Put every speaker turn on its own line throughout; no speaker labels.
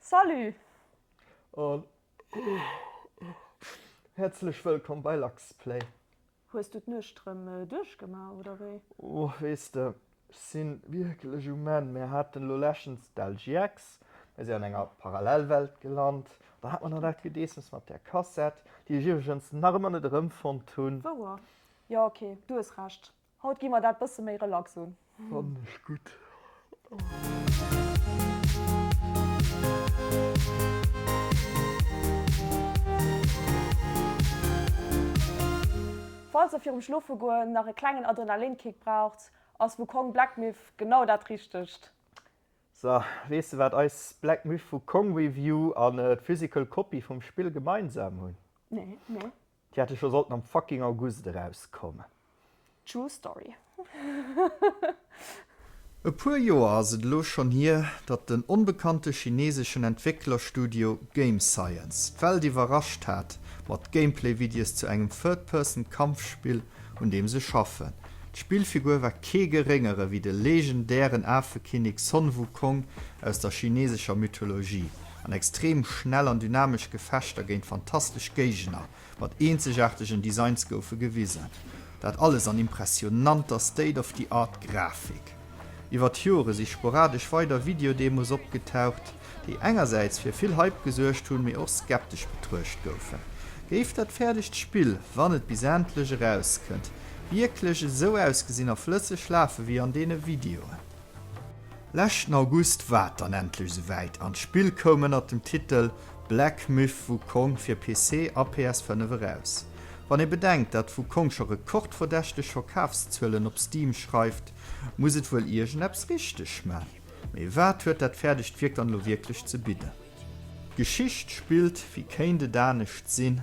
Salut!
An häerzlech wëllkomm bei Luxplay! Hues du
d'Nuecht rëm duerchgemaach, oder wéi? Oh, weess de,
ech si wierklech um Enn. Mir haten elo leschtens d'LGX, mir si an enger Parallelwelt gelant. Da hat mer nach dat Gedeessems mat där Kassett, déi ech iwwregens nach ëmmer net erëmfonnt hunn. Wouer? Jo,
ok, du hues Recht. Haut gi mer dat bësse méi relax un. Fannen ech gudd. Falls der virum Schlofegoen nach e klengen Adrenalinkick braucht, ass Wukong Black Myth genau dat richtegt. So,
weess de wat eis Black Myth Wukong Review an d'Physical Copy vum Spill gemeinsam hunn? Nee, nee.
Déi hätte scho
sollten am fucking August erauskommen. True
story.
E puer Joer ass et elo schonn hier, datt den onbekannte chineseschen Entwécklerstudio Game Science d'Welt iwwerrascht hat mat Gameplay-Videos zu engem Third-Person-Kampfspill, un deem se schaffen. D'Spillfigur war kee geréngere wéi de legendären Afekinnek Sun Wukong aus der chinesescher Mythologie. an extrem schnell an dynamesch Gefechter géint fantastesch Géigner mat eenzegaartegen Designs goufe gewisen. Dat alles an impressionanter State-of-the-Art Grafik. Iwwert d'Jore si sporadesch weider Videodemos opgetaucht, déi engersäits fir vill Hype gesuergt hunn, mee och skeptesch betruecht goufen. Géif dat fäerdegt Spill, wann et bis endlech erauskënnt, wierklech esou ausgesinn a flësseg lafe wéi an deene Videoen? Leschten August war et dann endlech esouwäit an d'Spill koum ënnert dem Titel Black Myth: Wukong fir PC a PS5 eraus. Wann ee bedenkt, dat Wukong scho rekordverdächteg Verkafszuelen op Steam schreift, muss et wuel iergendeppes richteg man. Mee wat huet dat fäerdegt Wierk dann elo wierklech ze bidden? D'Geschicht spillt, wéi kéint et anescht sinn?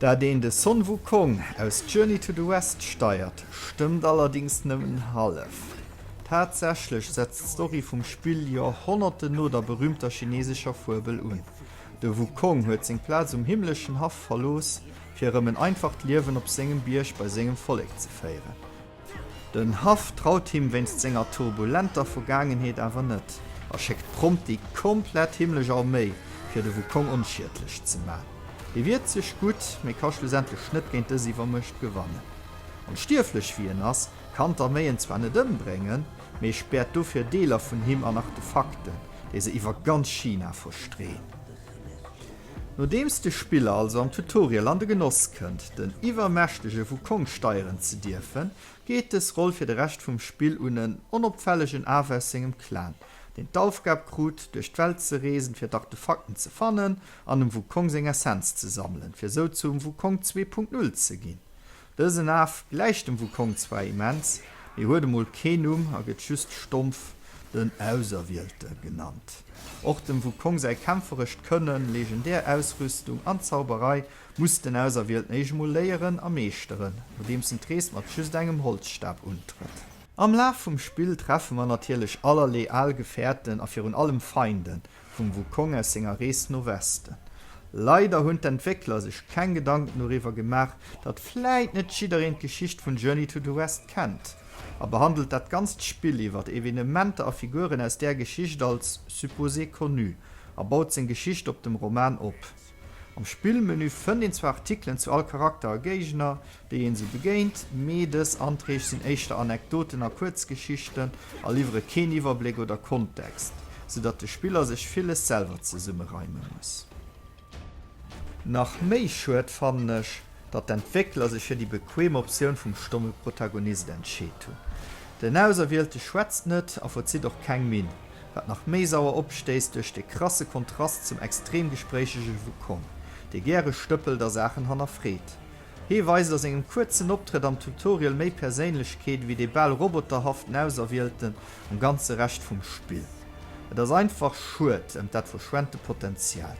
Dat een de Sun Wukong aus Journey to the West steiert, stëmmt allerdéngs nëmmen hallef. Tatsächlech setzt d'Story vum Spill Joerhonnerten no der berüümter chinesescher Fuebel un. De Wukong huet seng Plaz um himmleschen Haff verlooss, fir erëm en einfacht Liewen op sengem Bierg bei sengem Vollek ze féieren. Den Haff traut him wéinst senger turbulenter Vergaangenheet awer net a schéckt prompt déi komplett himmlesch Arméi, fir de Wukong onschiedlech ze man. Dee wiert sech gutt, mee ka schlussendlech net géint dës Iwwermuecht gewannen. Onstierflech wéi en ass, kann d'Arméi en zwar net ëmbréngen, mee späert dofir Deeler vun him an Artefakten, déi se iwwer ganz China verstreeën. Nodeems de Spiller also am Tutorial an de Genoss kënnt, den iwwermächtege Wukong steieren ze dierfen, geet dës Roll fir de Rescht vum Spill un en onopfällegen Af aus sengem Clan, deen d'Aufgab krut, duerch d'Welt ze reesen, fir d'Artefakten ze fannen an dem Wukong seng Essenz ze sammelen, fir sou zum Wukong Zwee Punkt Null ze ginn. Dësen Af gläicht dem Wukong zwar immens, mee huet emol kee Numm a gëtt just stompf den Auserwielte genannt. Och dem Wukong säi kämpferescht Kënnen, legendär Ausrüstung an Zauberei muss den Auserwielten éischt emol léieren a meeschteren, nodeems en d'Rees mat just engem Holzstab untrëtt. Am Laf vum Spill treffe mer natierlech allerlee al Gefäerten a virun allem Feinden, vum Wukong aus senger Rees no Westen. Leider hunn d'Entwéckler sech keng Gedanken doriwwer gemaach, datt vläit net jiddereen d'Geschicht vun Journey to the West kennt, a behandelt dat ganzt Spill iwwer Evenementer a Figuren aus där Geschicht als supposé connu a baut seng Geschicht op dem Roman op. Am Spillmenü fënnt een zwar Artikelen zu all Charakter a Géigner, déi een esou begéint, mee dës Anträg sinn éischter Anekdoten a Kuerzgeschichten a liwwere keen Iwwerbléck oder Kontext, sou datt de Spiller sech villes selwer zesummereime muss. Nach méi schued fannen ech, datt d'Entwéckler sech fir déi bequeem Optioun vum stomme Protagonist entscheet hunn. Den Auserwielte schwätzt net a verzitt och keng Minn, wat nach méi sauer opstéisst duerch de krasse Kontrast zum extrem gespréichege Wukong, dee gäre stëppelt a Saachen hannerfreet, Hee weist a sengem kuerzen Optrëtt am Tutorial méi Perséinlechkeet ewéi dee bal roboterhaften Auserwielten am ganze Rescht vum Spill. Et ass einfach schued ëm dat verschwente Potenzial.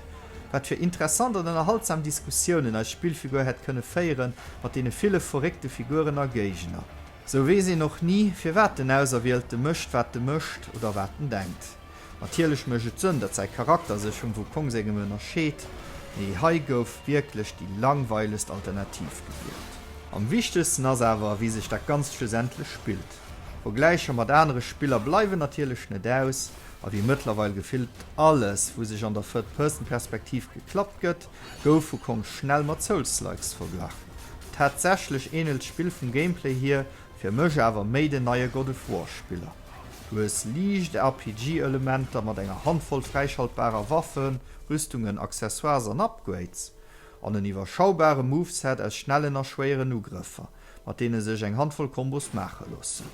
Wat fir interessant an ënnerhaltsam Diskussiounen eis Spillfigur hätt kënne féiere mat deene ville verréckte Figuren a Géigner. Sou weess een och ni, firwat den Auserwielte mécht, wat e mécht oder wat en denkt. Natierlech mécht et Sënn, datt säi Charakter sech vum Wukong sengem ënnerscheet, mee hei gouf wierklech déi langweilegst Alternativ gewielt. Am wichtegsten ass awer, wéi sech dat Ganzt schlussendlech spillt. Vergläicher mat anere Spiller bleiwen natierlech net aus, a wéi mëttlerweil gefillt alles, wou sech an der Third-Person-Perspektiv geklappt gëtt, gouf Wukong schnell mat Souls-likes verglach. Tatsächlech änelt d'Spill vum Gameplay hier Fir mech awer méi den neie God of War Spiller. Du hues liicht RPG Elementer mat enger Handvoll fräischaltbarer Waffen, Rüstungen, Accessoires an Upgrades, an en iwwerschaubare Moveset aus schnellen a schwéieren Ugrëffer, mat deene sech eng Handvoll Kombos maache loossen.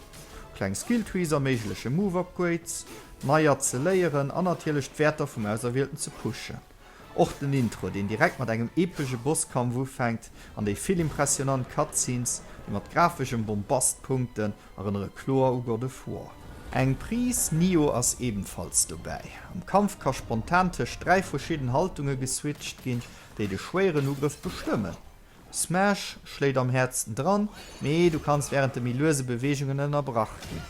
Kleng Skilltrees erméigleche Move Upgrades neier ze léieren an natierlech d'Wäerter vum Auserwielten ze pushen. Och den Intro, deen direkt mat engem epege Bosskampf ufänkt, an déi vill impressionant Cutscenes, déi mat grafeschem Bombast punkten, erënnere kloer u God of War. Eng Pris Nioh ass ebenfalls dobäi. Am Kampf ka spontan tëscht dräi verschidden Haltunge geswitcht ginn, déi de schwéieren Ugrëff bestëmmen. Smash schléit am häertsten dran, mee du kanns wärend de méi luese Beweegungen ënnerbrach ginn.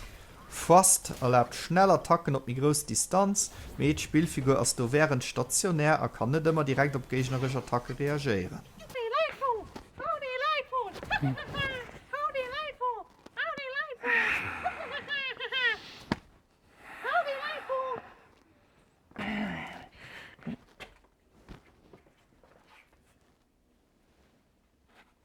Thrust erlaabt schnell Attacken op méi grouss Distanz, mee d'Spillfigur ass do wärend stationär a kann net ëmmer direkt op géigneresch Attacke reagéieren.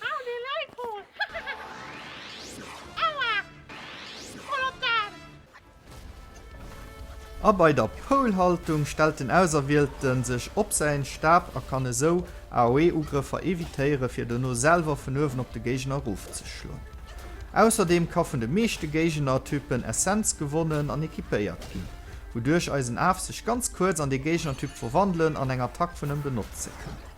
Hau déi Leit hol! Aua! Voll op d'Aan! A bei der Pole-Haltung stellt den Auserwielten sech op säin Stab a kann esou AOE-Ugrëffer evitéieren, fir dono selwer vun uewen op de Géigner erofzeschloen. Ausserdeem ka vun de meeschte Géigner-Typen Essenz gewonnen an equipéiert ginn, wouduerch eisen Af sech ganz kuerz an dee Géigner-Typ verwandelen an eng Attack vun em benotze kann.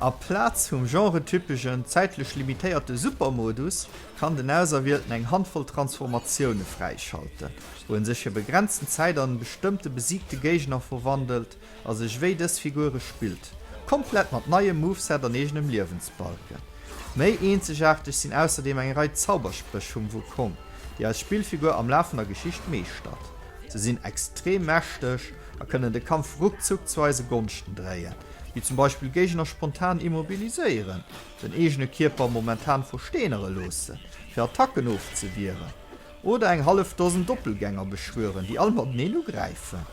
A Plaz vum genretypeschen, zäitlech limitéierte Supermodus kann den Auserwielten eng Handvoll Transformatioune fräischalten, wou en sech fir begrenzten Zäit an en bestëmmte besiegte Géigner verwandelt a sech wéi dës Figure spillt, komplett mat neiem Moveset an eegenem Liewensbalken. Méi eenzegaarteg sinn ausserdeem eng Rei Zauberspréch vum Wukong, déi eis Spillfigur am Laf vun der Geschicht meeschtert. Se sinn extrem mächteg a kënnen de Kampf ruckzuck zu eise Gonschten dréien, wéi zum Beispill Géigner spontan immobiliséieren, den eegene Kierper momentan versteenere loosse fir Attacken ofzewieren oder eng hallef Dosen Doppelgänger beschwören, déi all mateneen ugräifen.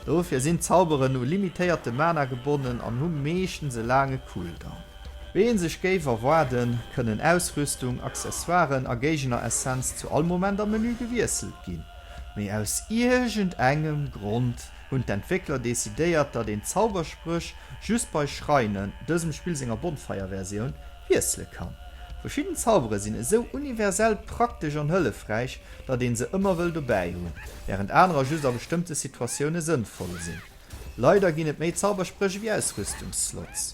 Dofir sinn d'Zauberen u limitéierte Mana gebonnen an hu meeschtens e laange Cooldown. Wéi ee sech géif erwaarden, kënnen Ausrüstung, Accessoiren a Géigner-Essenz zu all Moment am Menü gewiesselt ginn. Mee aus iergend engem Grond hunn d'Entwéckler decidéiert, datt een d'Zauberspréch just bei Schreinen, dësem Spill senger Bonfire-Versioun, wiessele kann. Verschidden Zaubere sinn esou universell praktesch an hëllefräich, datt een se ëmmer wëll dobäi hunn, wärend anerer just a bestëmmte Situatioune sënnvoll sinn. Leider ginn et méi Zauberspréch ewéi Ausrüstungsslots.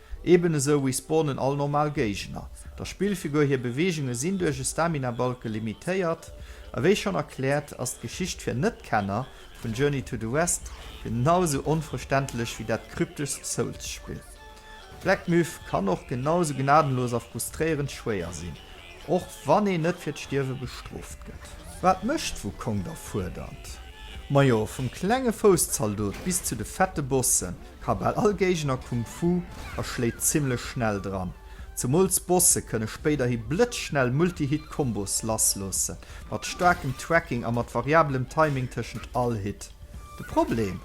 Eben esou respawnen all normal Géigner der Spillfigur, hir Beweegunge sinn duerch e Stamina-Balke limitéiert, a wéi schonn erkläert, ass d'Geschicht fir Net-Kenner vun Journey to the West genau esou onverständlech wéi dat krypteschst Souls-Spill. Black Myth kann och genau esou gnadenlos a frustréierend schwéier sinn, och wann een net fir d'Stierwe bestrooft gëtt. Wat mécht Wukong da fuerdernd? Majo, vum klenge Fousszaldot bis zu de fette Bossen, Ka bal all Géigner Kung Fu a schléit zimmlech schnell dran. Zemools Bosse kënne spéiderhi blëtzschnell Multi-Hit Combos lass loosse, mat staarkem Tracking a mat variabelem Timing tëschent all Hit. De Problem?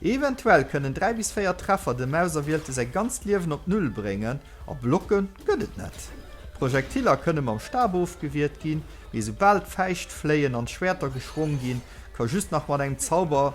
Eventuell kënnen 3 bis 4 Treffer dem Auserwielte säi ganzt Liewen op Null bréngen, a Blocke gëtt et net. D'Projektiller kënne mam Stab ofgewiert ginn, mee soubal d'Fäischt fléien an d'Schwäerter geschwong ginn, ka just nach mat engem Zauber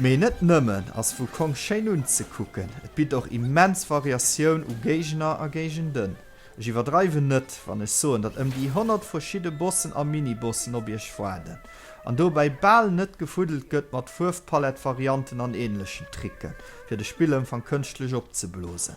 Mee net nëmmen ass Wukong schéin unzekucken, et bitt och immens Variatioun u Géigner a Géigenden. Ech iwwerdreiwen net, wann ech soen, datt ëm déi 100 verschidde Bossen a Mini-Bossen op iech waarden, an dobäi bal net gefuddelt gëtt mat Fuerwpalett-Varianten an änlechen Tricken, fir de Spillëmfang kënschtlech opzeblosen.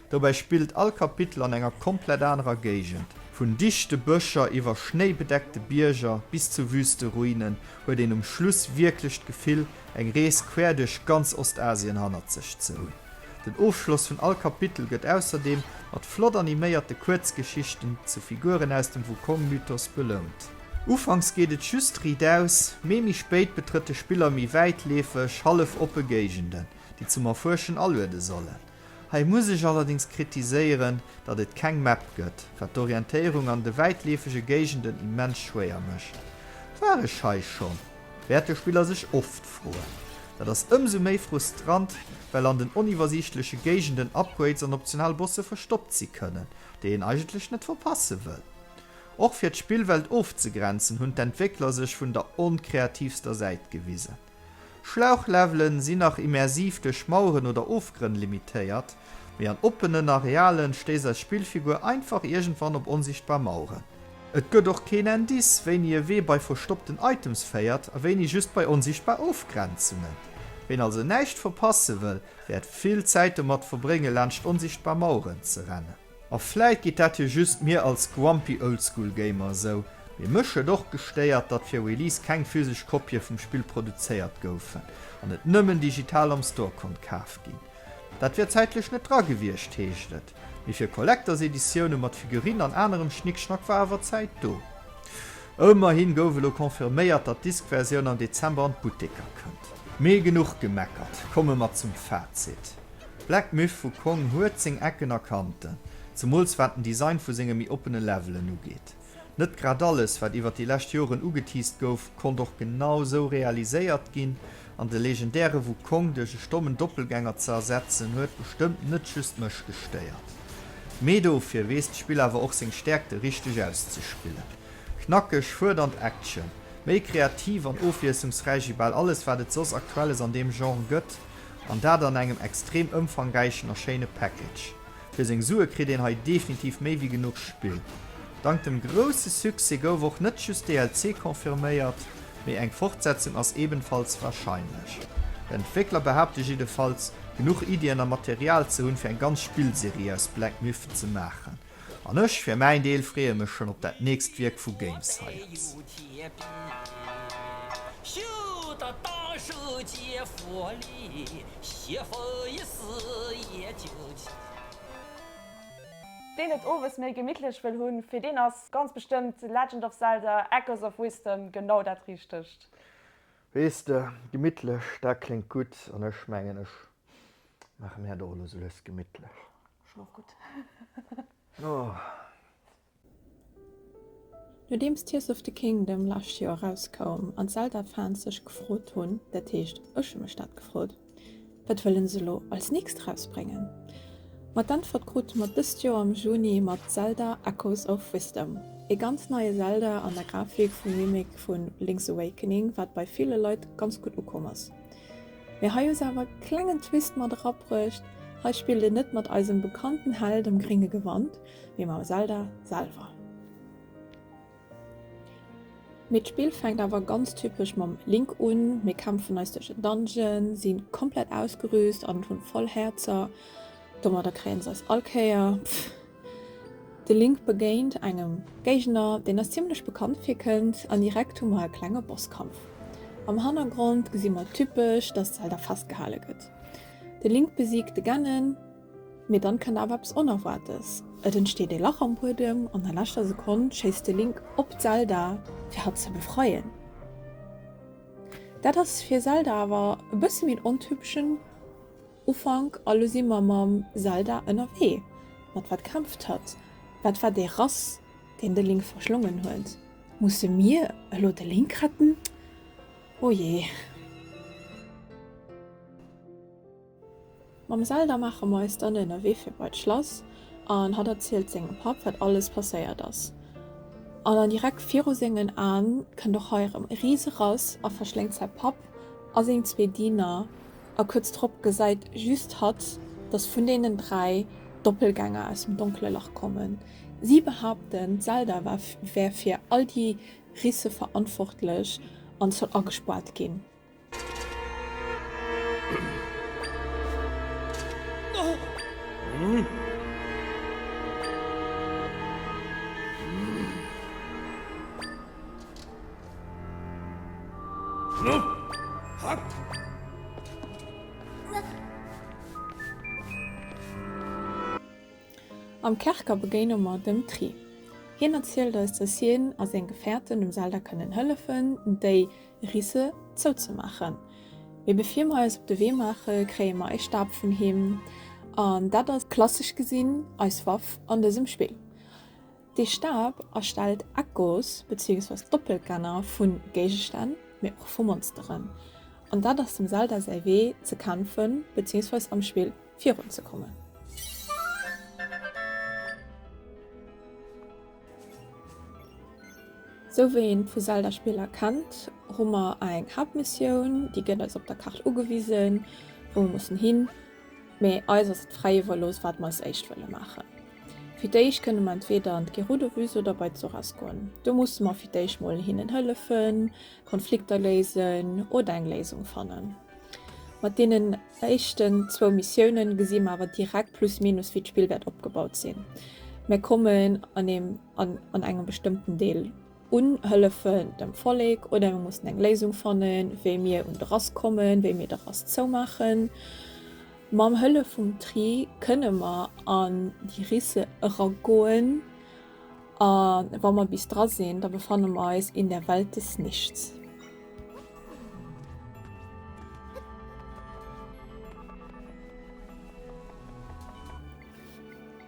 Dobäi spillt all Kapitel an enger komplett anerer Géigend. Vun dichte Bëscher iwwer schnéibedeckte Bierger bis zu wüste Ruinen huet een um Schluss wierklech d'Gefill, eng Rees quer duerch ganz Ostasien hannert sech ze hunn. Den Ofschloss vun all Kapitel gëtt ausserdeem mat flott animéierte Kuerzgeschichten zu Figuren aus dem Wukong-Mythos belount. Ufanks geet et just Rideaus, mee méi spéit betrëtt de Spiller méi wäitleefeg, hallef oppe Géigenden, déi zum Erfuerschen aluede sollen. Hei muss ech allerdings kritiséieren, datt et keng Map gëtt, wat d'Orientéierung an de wäitleefege Géigenden immens schwéier mécht. War ech hei schonn? wäert de Spiller sech oft froen. Dat ass ëmsou méi frustrant, well an den oniwwersiichtleche Géigenden Upgrades an optional Bosse verstoppt si kënnen, déi een eigentlech net verpasse wëll. Och fir d'Spillwelt ofzegrenzen, hunn d'Entwéckler sech vun der onkreativster Säit gewisen. Schlauchlevelen sinn nach immersiv duerch Maueren oder Ofgrënn limitéiert, mee an oppenen Arealen stéisst eis Spillfigur einfach iergendwann op onsichtbar Maueren. Et gëtt och keen Indice, wéini e Wee bei verstoppten Items féiert a wéini just bei onsichtbar Ofgrenzungen. Ween also näischt verpasse wëll, wäert vill Zäit domat verbréngen, laanscht onsichtbar Maueren ze rennen. A vläit geet dat jo just mir als grumpy oldschool Gamer esou, mee mech huet och gestéiert, datt fir Release keng physesch Kopië vum Spill produzéiert goufen an et nëmmen digital am Store konnt kaaft ginn. Dat wier zäitlech net dra gewiescht, heescht et, mee fir Collectors-Editioune mat Figurine an anerem Schnickschnack war awer Zäit do. Ëmmerhi gouf elo confirméiert, datt d'Disk-Versioun am Dezember an d'Butteker kënnt. Mee genuch gemeckert, komme mer zum Fazit. Black Myth vu Kong huet seng Ecken a Kanten, zemools wat den Design vu senge méi oppene Levelen ugeet. Net grad alles, wat iwwer déi lescht Joren ugeteased gouf, konnt och genau sou realiséiert ginn, an de legendäre Wukong duerch e stommen Doppelgänger ze ersetzen, huet bestëmmt net just mech gestéiert. Mee dofir weess d'Spill awer och seng Stäerkte richteg auszespillen. Knackeg, fuerdernd Action, méi kreativ an ofwiesslungsräich wéi bal alles, wat et soss Aktuelles an deem Genre gëtt, An dat an engem extrem ëmfangräichen a schéine Package. Fir seng Sue kritt een hei definitiv méi wéi genuch Spill. Dank dem grousse Succès gouf och net just DLC confirméiert, mee eng Fortsetzung ass ebenfalls warscheinlech. D'Entwéckler behaapte jiddefalls, genuch Iddien a Material ze hunn, fir eng ganz Spillserie aus Black Myth ze maachen. An ech fir mäin Deel freeë mech schon op dat nächst Wierk vu GameScience.
Deen et owes méi gemittlech wëll hunn, fir deen ass ganz bestëmmt Legend of Zelda, Echoes of Wisdom genau dat Richtegt. Weess
de, gemittlech, dat kléngt gutt, an ech mengen, ech Maache mir dat och elo sou lues gemittlech. Schlof gutt.
Nodeems Tears of the Kingdom lescht Joer erauskoum an d'Zelda-Fans sech gefrot hunn, dat heescht, ech hu mech dat gefrot, wat wëlle se elo als nächst erausbréngen, ma d'Äntwert krute mer dëst Joer am Juni mat Zelda, Echoes of Wisdom. Ee ganz neie Zelda an der Grafik vum Remake vu Link's Awakening, wat bei ville Leit ganz gutt ukomm ass. Mee hei hu se awer e klengen Twist mat erabruecht, hei spillt een net mat eisem bekannten Held am gringe Gewand, mee mam Zelda selwer. Mee d'Spill fänkt awer ganz typesch mam Link un, mir kämpfen eis duerch en Dungeon, sinn komplett ausgerüst an hunn voll Häerzer, domadder kréien se eis all Kéier. De Link begéint engem Géigner, deen eis zimmlech bekannt virkënnt, an direkt hu mer e klenge Bosskampf. Am Hannergrond gesi mer typesch, dass Zelda festgehale gëtt. De Link besiegt de Ganon, mee dann kënnt awer eppes Onerwaartes, Et entsteet ee Lach am Buedem, an der leschter Sekonn schéisst de Link op Zelda fir hatt ze befreien. Dat ass fir Zelda awer e bësse méi en ontypeschen. Ufank a lo si mer mam Zelda ënnerwee. Mat wat kämpft hatt? Wat war dee Rass, deen de Link verschlongen huet? Musse mir elo de Link retten? Oh jee! Mam Zelda maache mer eis dann ënnerwee fir bei d'Schlass an hatt erzielt sengem Papp, wat alles passéiert ass. An an direkt viru sengen Aen kënnt och hei erëm e Rise-Rass a verschléngt säi Papp a seng zwee Diener A kuerz drop gesäit just hatt, datt vun deenen dräi Doppelgänger aus dem donkele Lach kommen. Si behaapten, d'Zelda wär fir all déi Risse verantwortlech an soll agespaart ginn. Am Kerker begéine mer dem Tri. Hien erzielt eis, dass hien a seng Gefährten dem Zelda kënnen hëllefen, déi Risse zouzemaachen. Mee bevir mer eis op de Wee maache, kréie mer e Stab vun him, an dat ass, klassesch gesinn, eis Waff an dësem Spill. Dee Stab erstellt Echos beziéungsweis Doppelgänger vu Géigestänn, mee och vu Monsteren. An dat ass dem Zelda säi Wee ze kämpfen beziéungsweis am Spill virun ze kommen. Sou wéi een vu Zelda Spiller kennt, hu mer eng Haaptmissioun, déi gëtt eis op der Kaart ugewisen, wou mer mussen hin, Mee eis ass et fräi iwwerlooss, wat mer als éischt wëlle maachen. Fir d'éischt kënne mer entweeder an d'Gerudo-Bus oder bei d'Soras goen. Do musse mer fir d'éischt mol hinnen hëllefen, Konflikter léisen oder eng Léisung fannen. Mat deenen éischten zwou Missioune gesi mer awer direkt plus minus, wéi d'Spill wäert opgebaut sinn. Mer kommen an engem bestëmmten Deel Unhëllefen dem Vollek oder mir mussen eng Léisung fannen, wéi mir un de Rass kommen, wéi mir de Rass zoumaachen. Mam Hëllef vum Tri kënne mer an déi Risse eragoen a wa mer bis dra sinn, da befanne mer eis in der Welt des Nichts.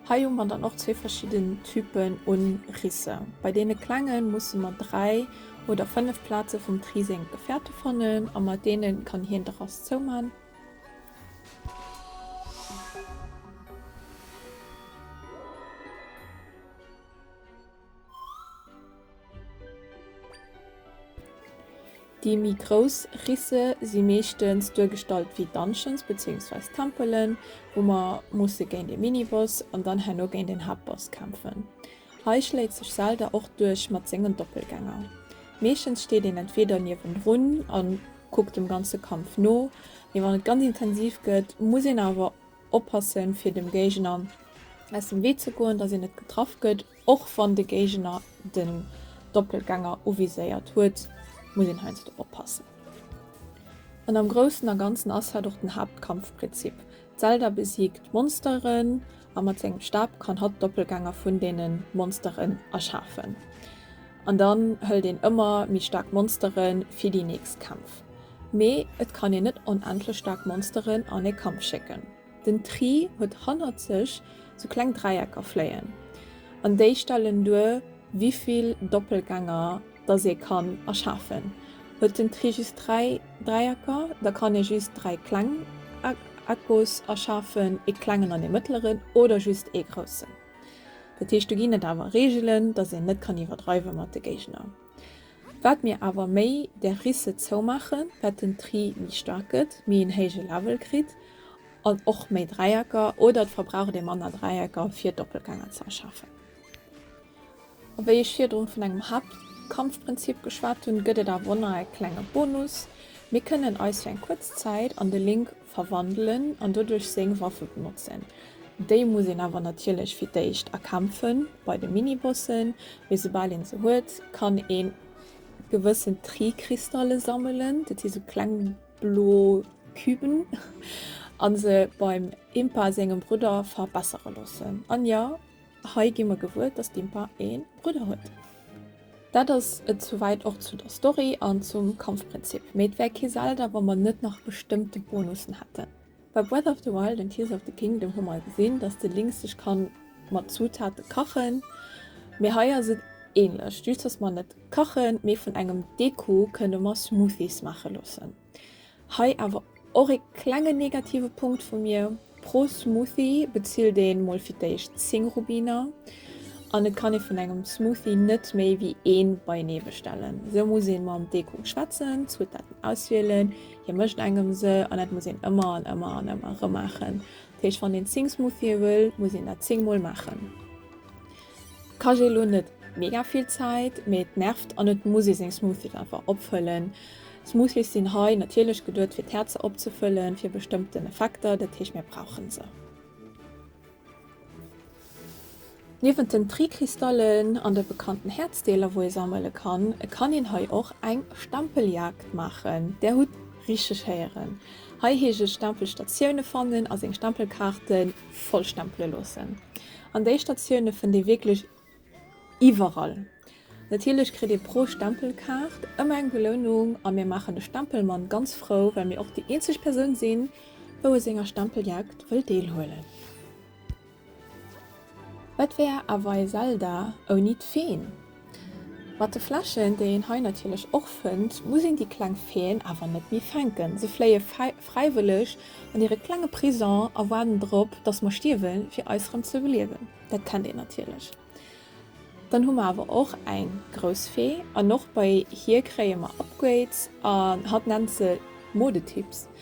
Hei hu mer dann och zwee verschidden Typen u Risse. Bei deene klenge musse mer dräi oder fënnef Plaze vum Tri seng Gefäerte fannen a mat deene kann hien de Rass zouman. Déi méi grouss Risse si meeschtens duergestallt wéi Dungeons bezéiungsweis Tempelen, wou mer musse géint ee Miniboss an dann herno géint een Haaptboss kämpfen. Hei schléit sech Zelda och duerch mat sengen Doppelgänger. Meeschtens steet een entweeder niewenrun a kuckt dem ganze Kampf no, mee wann et ganz intensiv gëtt, muss een awer Oppassen, fir dem Géigner aus dem Wee ze goen, dass een net getraff gëtt. Och wann de Géigner den Doppelgänger uviséiert huet, muss een heiansdo oppassen. An am Groussen a Ganzen ass hatt och den Haaptkampfprinzip. D'Zelda besiegt d'Monsteren a mat sengem Stab kann hatt Doppelgänger vun deenen Monsteren erschafen. An dann hëlt een ëmmer méi staark Monsteren fir déi nächst Kämpf. Mee et kann een net onendlech staark Monsteren an ee Kampf schécken. Den Tri huet hannert sech sou kleng Dräiecker fléien, an déi stellen duer wivill Doppelgänger dass ee kann erschafen. Huet den Tri just 3 Dräiecker, da kann ee just 3 kleng Echos erschafen, ee klengen an ee mëttleren, oder just ee groussen. Dat heescht do ginn et awer Reegelen, dass een net kann iwwerdreiwe mat de Géigner. Wat mir awer méi där Risse zoumaachen, wat den Tri méi staark gëtt, méi en héije Level kritt an och méi Dräiecker oder et verbraucht ee manner Dräiecker fir Doppelgänger ze erschafen. A wéi ech virdrun vun engem Haaptkampfprinzip geschwat hunn, gëtt et awer och nach e klenge Bonus, Mir kënnen eis fir eng kuerz Zäit an de Link verwandelen an doduerch seng Waffe benotzen. Déi muss een awer natierlech fir d'éischt erkämpfen bei de Minibossen, mee soubal een se huet, kann ee gewëssen Tri-Kristalle sammelen, dat si sou kleng blo Küben, a se beim Impa sengem Brudder verbessere loossen. An jo. Hei gi mer gewuer, dass d'Impa ee Brudder huet. Dat ass et souwäit och zu der Story an zum Kampfprinzip, mee et wär kee Zelda, wa mer net nach bestëmmte Bonussen hätten. Bei Breath of the Wild and Tears of the Kingdom hu mer gesinn, dass de Link sech ka mat Zutate kachen, mee hei ass et ähnlech, just dass mer net kachen, mee vun engem Deko kënne mer Smoothies maache loossen. Hei awer och ee klengen negative Punkt vu mir, pro Smoothie bezilt een mol fir d'éischt 10 Rubiner an et kann ee vun engem Smoothie net méi wéi een beienee bestellen. Sou muss een mam Deko schwätzen, Zutaten auswielen, hie mécht engem se an dat muss een ëmmer an ëmmer an ëmmer erëm maachen. Dat heescht wann een 10 Smoothie wëll, muss een dat 10 mol maachen. Kajé elo net mega vill Zäit, mee et nervt an et muss ee seng Smoothies einfach opfëllen. Smoothies sinn hei natierlech geduet fir d'Häerzer opzefëllen, fir bestëmmten Effekter, dat heescht mir brauchen se. Niewent den Tri-Kristallen an de bekannten Häerzdeeler wou ee sammele kann, kann een hei och eng Stempeljagd maachen. Där hutt richteg héieren, hei heescht et Stempelstatioune fannen a seng Stempelkaarten Vollstempele loossen. An déi Statioune fënnt ee wierklech iwwerall. Natierlech kritt ee pro Stempelkaart ëmmer eng Belounung a mir maachen de Stempelmann ganz frou, well mir och déi eenzeg Persoun sinn, wou u senger Stempeljagd wëll deelhuelen. Wat wär awer ee Zelda ouni d'Feen? Mat de Fläschen, déi een hei natierlech och fënnt, muss een déi kleng Feeën awer net méi fänken. Se fléie fräiwëlleg an hire klenge Prison a waarden drop, datt mer stierwen, fir eis erëm ze beliewen. Dat kennt een natierlech. Dann hu mer awer och eng grouss Fee an och bei hir kréie mer Upgrades an hatt nennt se Modetips.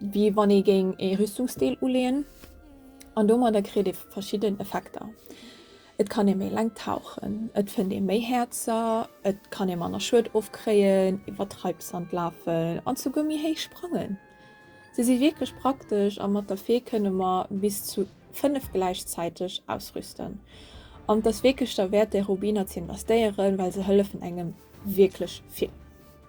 wéi wann ee géing ee Rüstungsdeel uleeën, an domadder kritt ee verschidden Effekter, et kann ee méi laang tauchen, et fënnt ee méi Häerzer, et kann ee manner Schued ofkréien, iwwer Treibsand lafen an souguer méi héich sprangen. Se si wierklech praktesch a mat der Fee kënne mer bis zu 5 gläichzäiteg ausrüsten. An et ass wierklech derwäert déi Rubiner ze investéieren, well se hëllefen engem wierklech vill.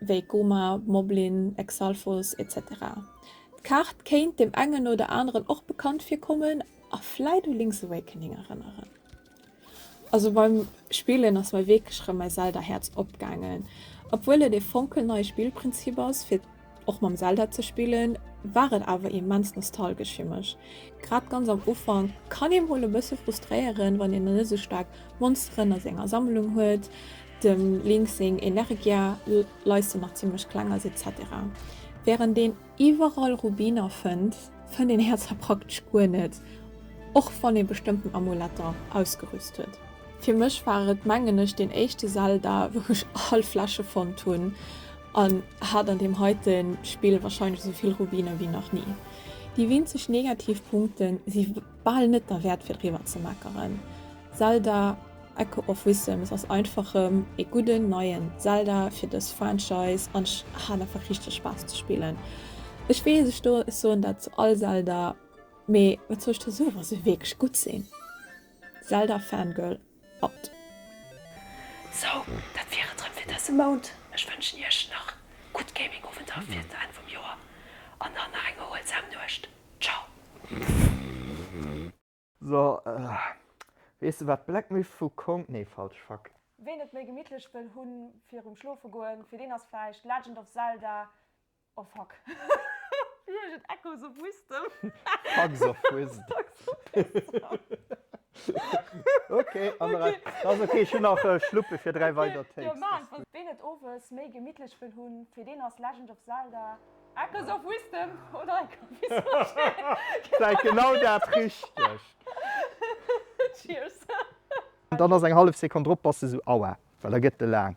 wéi Goma, Moblin, Exalfos, etc. D'Kaart kéint dem engen oder aneren och bekannt virkommen a vläit u Link's Awakening erënneren. Also beim Spillen ass mei wierklech erëm mäi Zelda Häerz opgaangen. Obwuel et ee fonkelneie Spillprinzip ass fir och mam Zelda ze spillen, war et awer immens nostalgesch fir mech. Grad ganz am Ufank kann ee mol e bësse frustréieren, wann een nach net esou staark Monsteren a senger Sammlung huet, Dem Link seng Energia leiste nach zimlech kleng ass etc. Während een iwwerall Rubiner fënnt, fënnt een Häerzer praktesch guer net, och wann ee bestëmmten Amuletter ausgerüst huet. Fir mech war et mengen ech deen éischte Zelda wou ech all Fläsche fonnt hunn an hat an deem heite Spill wahrscheinlech esouvill Rubiner wéi nach ni. Déi winzeg negativ Punkte si bal net derwäert fir driwwer ze meckeren. Zelda Echo of Wisdoms ass einfach rem ee gudden neien Zelda fir dës Franchise an ech hat einfach richteg Spaass ze spillen. Ech weess ech do ech soen dat zu all Zelda mee wat soll ech der soen wa se wierklech gutt sinn. Zelda Fangirl. Mat.
Sou, dat wier et rem fir dëse Mount. Ech wënschen iech nach gutt Gaming-Owenter fir den Enn vum Joer an dann nach eng erhuelsam Nuecht. Ciao.
So, weess de wat Black Myth vu Kong, nee falsch, fuck. Ween et méi gemittlech
wëll hu virum Schlofe goen, fir deen ass vläicht Legend of Zelda Oh fuck. Wéi heescht et? Echoes of Wisdom? Fucks of
Wisdom. Okay, an der Rei. Dat ass okay, ech hunn nach Schluppe fir dräi weider Takes. Jo, maan et. Ween et
owes méi gemittlech wëll hunn, fir deen ass Legend of Zelda, Echoes of Wisdom oder eng Kopie Switch vläit
genau dat Richtegt. Cheers. Dann ass
eng
hallef Sekonn drop, bass de sou, Aua, well da gëtt e laang.